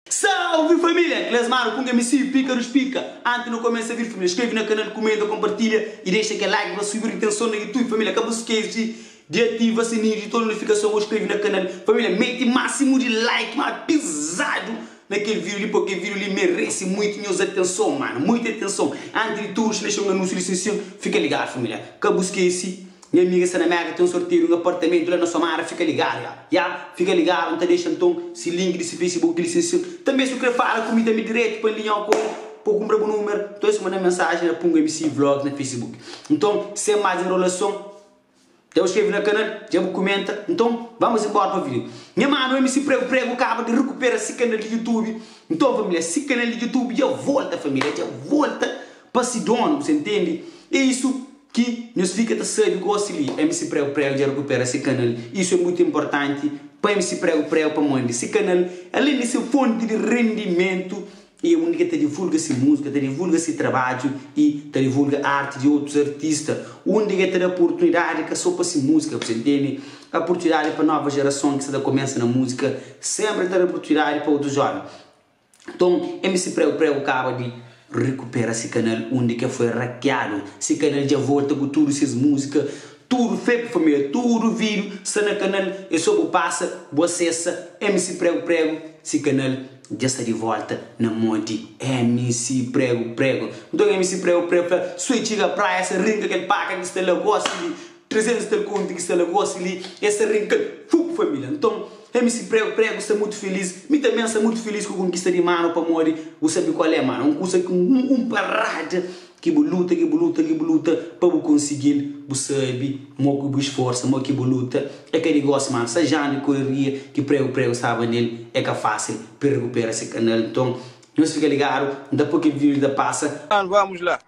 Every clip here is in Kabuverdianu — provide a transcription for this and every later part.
Salve família! Klesmaro ku Ngemisiu, Píkarus Pika. Anti nu kumesa vídiu família, skrebe na kanal, kumenta, konpartilha i dexa kel like pa subi ritenson na Youtube família. Ka bu skese di ativa sininhu di tudu notifikason ô skrebe na kanal família. Mete másimu di like má pizadu na kel vídiu li, pô kel vídiu li merese muitu nhos atenson mano, muitu atenson. Anti di tudu, dexo-l anúnsiu li sin-sin, fika ligadu família. Ka bu skese. Nha amiga sta na Meka ten sorteio di un apartamentu la na Somara fika ligadu ya ya fika ligadu nta dexa nton si link di si Facebook di si si tanbe su kre fala ku mi tanbe diretu pa nli nha kore po kumpra bu numer nton es manda mensaji la pun mc vlogs na Facebook nton sem mas enrolason dja bu skrevi na kanal dja bu kumenta nton vamos enbora pa video nha manu mc pregu pregu kaba di rekupera si kanal di YouTube nton familia si kanal di YouTube dja volta familia dja volta pa si donu bu sta ntendi e isu. Ki nhos fika ta sabi gosi li MC Prego Prego dja rekupera se kanal, isu é mutu inportanti pa MC Prego Prego pamodi se kanal, alen di se fonti di rendimentu, i é undi ki el ta divulga se múzika, ta divulga se trabadju i ta divulga arti di otus artista, undi ki el ta da portunidadi ka so pa se múzika, bu ta intende, aportunidadi pa nova jerason ki sta ta kumesa na múzika, senpri ta da aportunidadi pa otus jóven. Nton, MC Preu Preu kaba di rekupera se kanal undi ki el foi rakiadu. Se kanal dja volta ku tudu ses múzika, tudu febre família, tudu vídiu sta na kanal, é sô bu pasa, bu asesa MC Preu Preu, se kanal dja sta di volta na mô di MC Preu Preu. Nton MC Preu Preu fla, Sô é txiga praia, sa rinka kel paka ki sta la, gosi di. Trazendo sta conte ki sta la gosi li e sa rinkal fup familia nton MC prego prego sta mutu feliz mi também sta mutu feliz ku konkista di mano pamodi bu sabi kual é mano un kusa ki un un parada ki bu luta ki bu luta ki bu luta pa bu konsigil bu sabi mo ki bu esforsa mo ki bu luta é ka di gosi mano sa janu e koreria ki prego prego staba nel é ka fasil pa el rekupera se kanal nton nos fika ligadu nta po kel video li ta pasa. Mano vamos lá.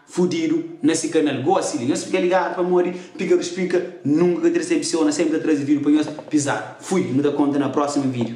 Fudidu na si kanal goa si li nhos fika ligadu pamodi piga ruspika nunka ka trese episeu na senpri ta traze vidio pa nhos pizadu fui nu ta konta na prosima vidio.